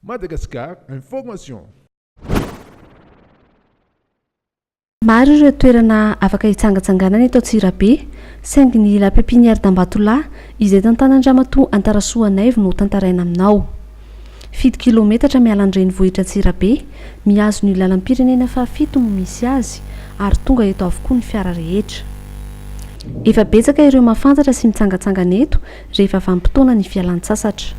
Madagascar Information. Maro ireo toerana afaka hitsangatsanganana eto Antsirabe, saingy ny La Pépinière d'Ambatolahy, izay tantanan-dRamatoa Antarasoa Anaivo no tantaraina aminao. Fito kilaometatra miala an-drenivohitra Antsirabe, mihazo ny lalam-pirenena fahafito no misy azy, ary tonga eto avokoa ny fiara rehetra. Efa betsaka ireo mahafantatra sy mitsangatsangana eto, Rehefa vanim-potoana ny fialan-tsasatra.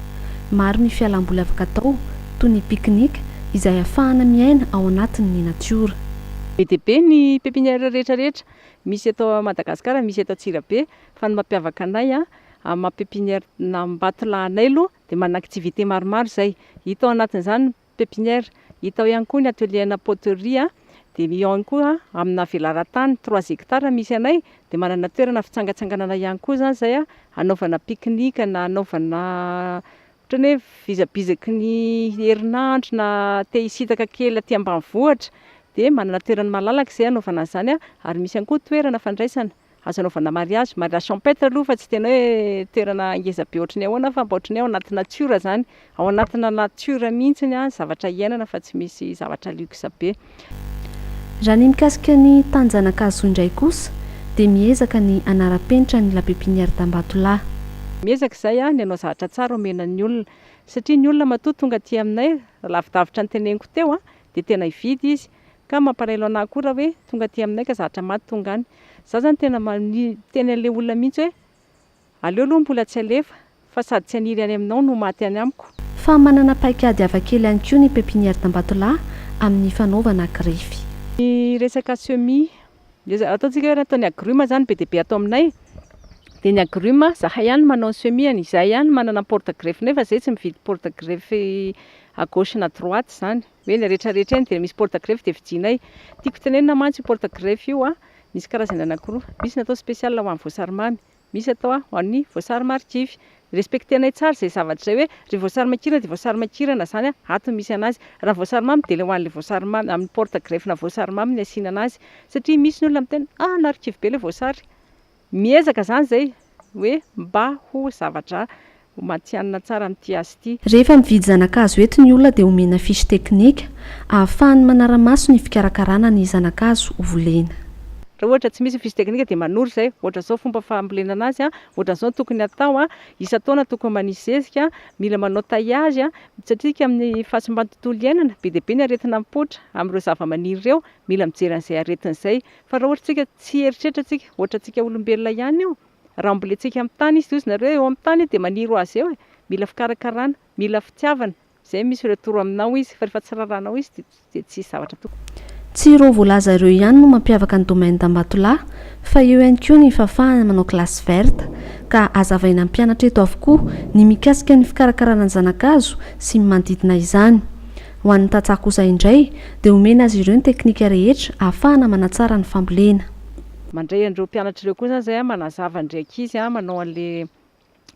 Maro ny fialam-boly afaka atao, toy ny pique-nique, izay ahafahana miaina ao anatin' ny natiora. Be dia be ny pepinière rehetra rehetra misy eto Madagasikara, misy eto Antsirabe, fa ny mampiavaka anay amin'ny maha pepinière an'Ambatolahy anay aloha dia manan-activité maromaro izay, hita ao anatin'izany ny. pepinière, hita ao ihany koa ny atelier ana poterie a, dia eo ihany koa amina velaran-tany trois hectares misy anay dia manana toerana fitsangatsanganana ihany koa zany zay a, hanaovana pique-nique na hanaovana ohatran'ny hoe fizabizaky ny herinandro na te hisintaka kely aty ambanivohitra dia manana toerana malalaka izay hanaovana an'izany a, ary misy ihany koa toerana fandraisana. Azo anaovana mariazy, mariage champêtre aloha fa tsy tena hoe toerana ngeza be ohatry ny ahoana fa mba ohatry ny hoe ao anaty natiora izany, ao anatina natiora mihitsy ny zavatra iainana fa tsy misy zavatra luxe be. Raha ny mikasika ny tany Zanakahazoa indray kosa dia miezaka ny hanara-penitra ny la pépinière d'Ambatolahy. Miezaka izay ny hanao zavatra tsara omena ny olona satria ny olona matoa tonga aty aminay, lavidavitra ny teneniko teo, dia tena hividy izy, Ka mampalahelo anah koa raha hoe tonga aty aminay ka zatra maty tonga any. Za zany tena miteny an'le olona mihitsy hoe aleo aloha mbola tsy alefa fa sady tsy haniry any aminao no maty any amiko. Fa manana paikady hafakely ihany koa ny pepinière d'Ambatolahy amin'ny fanaovana grefy. Ny resaka semis, dia ataontsika hoe ataon'ny agrumes zany be dia be ato aminay, dia ny agrumes zahay ihany no manao ny semis-ny, izahay ihany no manana ny porte greffe-nay fa zay tsy mividy porte greffe à gauche na à droite zany. hoe ilay rehetra rehetra eny dia misy porte greffe dia vidianay, tiako tenenina mantsy io porte greffe io an, misy karazany anakiroa, misy natao spécial ho an'ny voasary mamy, misy atao ho an'ny voasary marikivy, respecter-nay tsara izay zavatra izay hoe ry voasary makirana dia voasary makirana izany an, ato no misy anazy, raha ny voasary mamy dia ilay ho an'ilay voasary mamy, amin'ny porte greffe-na voasary mamy no asiana anazy, satria misy ny olona miteny ah narikivy be ilay voasary. Miezaka izany izay hoe mba ho zavatra ho matihanina tsara amin'ity asa ity. Rehefa mividy zana-kazo eto ny olona dia omena fiche teknika ahafahany manara-maso ny fikarakarana ny zana-kazo volena. Raha ohatra tsy misy ny fiche teknika dia manoro izay, ohatra izao fomba fambolena anazy, ohatra izao ny tokony hatao, isan-taona tokony manisy zezika, mila manao taillage, mitsatririka amin'ny fahasimban'ny tontolo iainana, be dia be ny aretina mipoitra amin'ireo zava-maniry ireo, mila mijery an'izay aretina izay. Fa raha ohatra tsika tsy hieritreritra tsika, ohatra tsika olombelona ihany io, raha mbola etsy amin'ny tany izy, tohizo nareo eo amin'ny tany dia maniry ho azy eo e, mila fikarakarana, mila fitiavana, izay misy ireo toro aminao izy, fa rehefa tsy rarànao izy dia dia tsisy zavatra tokony. Tsy ireo voalaza ireo ihany no mampiavaka ny domaine d'Ambatolahy fa eo ihany koa ny fahafahana manao classe verte, ka azavaina mpianatra eto avokoa ny mikasika ny fikarakarana ny zanakazo sy ny manodidina izany. Ho an'ny tantsaha kosa indray dia omena azy ireo ny teknika rehetra ahafahana manatsara ny fambolena. Mandray an'ireo mpianatra ireo koa zany zay manazava ndry ankizy manao anle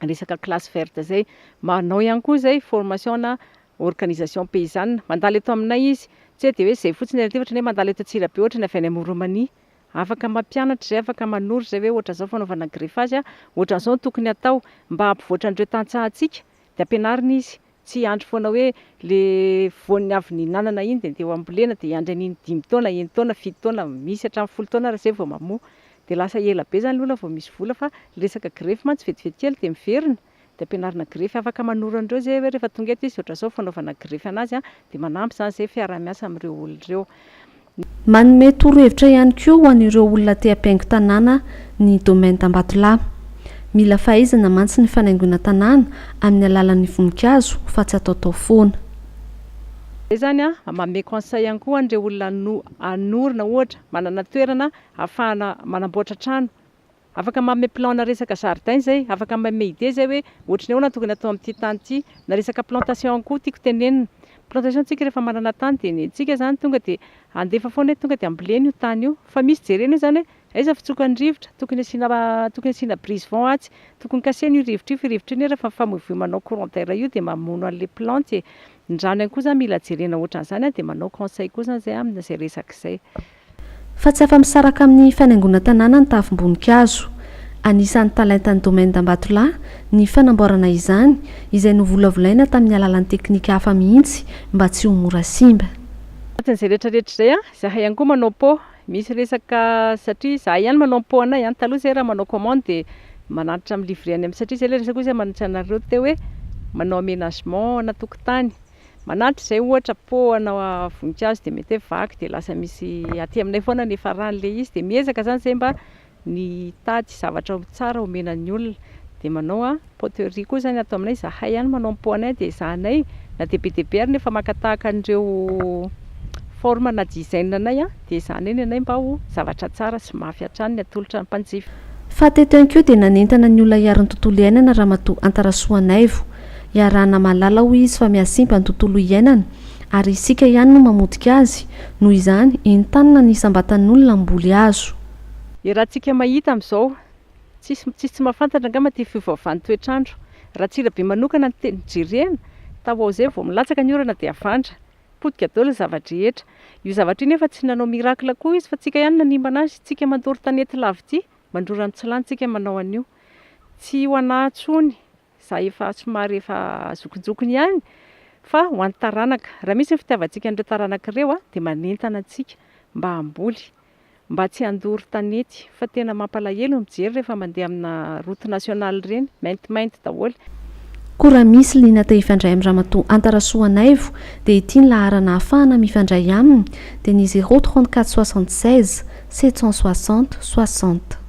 resaka classe verte zay. Manao ihany koa zay formation ana organisation paysanne. Mandalo eto aminay izy. Tsy hoe dia hoe zay fotsiny ary ity ohatrany hoe mandalo eto Antsirabe ohatrany avy any am Oromania. Afaka mampianatra zay afaka manoro zay hoe ohatra zao fanaovana greffage ohatra zao no tokony atao mba hampivoatra an'ireo tantsahantsika dia ampianarina izy Tsy hiandry foana hoe le voany avy nihinanana iny de andeha ho ambolena de hiandry an'iny dimy taona, enina taona, fito taona, misy hatramin'ny folo taona ary zay vao mamoa. De lasa ela be zany le olona vao misy vola fa le resaka grefy mantsy vetivety kely de miverina, de ampianarina grefy afaka manoro an'ireo zay hoe rehefa tonga eto izy ohatran'izao fanaovana grefy anazy a, de manampy zany zay fiaraha-miasa amin'ireo olona ireo. Manome torohevitra ihany koa ho an'ireo olona te hampihaingo tanàna ny Domaine Ambatolahy. Mila fahaizana mantsy ny fanaingoana tanàna amin'ny alalan'ny voninkazo fa tsy ataotao foana. Zay zany an, manome conseil ihany koa an'ireo olona hanorina ohatra, manana toerana hahafahana manamboatra trano. Afaka manome plan na resaka jardin izay, afaka manome idée izay hoe ohatry ny ahoana no tokony atao amin'ity tany ity, na resaka plantation koa tiako tenenina. Plantation tsika rehefa manana tany dia ny antsika izany tonga dia handefa foana hoe tonga dia ambolena io tany io, fa misy jerena io izany hoe aiza fitsokan'ny rivotra, tokony asiana tokony asiana brise vent atsy, tokony kasihina io rivotra io fa io rivotra io anie rehefa mifamoivoy manao courant d'air io dia mamono an'ilay plante e. Ny rano ihany koa izany mila jerena ohatran'izany dia manao conseil koa izany izay amin'izay resaka izay. Fa tsy afa-misaraka amin'ny fanaingoana tanàna ny tavim-boninkazo. Anisan'ny talentan'ny Domaine d'Ambatolahy ny fanamboarana izany, izay novolavolaina tamin'ny alalan'ny teknika hafa mihitsy mba tsy ho mora simba. Anatin'izay rehetra rehetra izay an, izahay ihany koa manao pot, misy resaka satria izahay ihany manao ny pot anay an, taloha izay raha manao commande dia manantitra mi-livrer any am, satria izay ilay resaka koa izay manontany anareo teo hoe manao aménagement ana tokotany, Manampy izay ohatra poana voninkazo dia mety hoe vaky dia lasa misy aty aminay foana ny efa rany ilay izy dia miezaka izany izay mba ny hitady zavatra tsara homena ny olona dia manao poterie koa izany ato aminay izahay ihany manao ny poanay dia ezahanay na dia be dia be ary nefa maka tahaka an'ireo forme na design anay dia ezahanay ny anay mba ho zavatra tsara sy mafy hatrany ny atolotra ny mpanjifa. Faha teto ihany koa dia nanentana ny olona hiaro ny tontolo iainana Ramatoa Antarasoa Naivo Iarahana mahalala hoy izy fa mihasimpa ny tontolo iainana ary isika ihany no mamotika azy, noho izany entanina ny isam-batan'olona mboly azo. Ny raha tsika mahita amin'izao, tsisy tsisy tsy mahafantatra angamba ity fiovaovan'ny toetr'andro. Ratsirabe manokana no tena jerena, taoao izay vao milatsaka ny orana dia avandra, potika daholo ny zava-drehetra. Io zavatra io nefa tsy nanao miracle koa izy fa tsika ihany nanimbana azy, tsika mandoro tanety lavity mandrora ny tsy lanintsika manao an'io. Tsy ho anà tsony. za efa somary efa zokinjokiny ihany fa ho an'ny taranaka, raha misy ny fitiavantsika an'ireo taranaka ireo a, dia manentana antsika mba hamboly, mba tsy handoro tanety fa tena mampalahelo ny mijery rehefa mandeha amina route nationale ireny, maintimainty daholo. Koa raha misy liana te hifandray amin'i Ramatoa Anta Rasoanaivo dia ity ny laharana ahafahana mifandray aminy dia ny 034 76 760 60.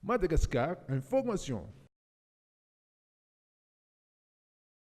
Madagascar Information.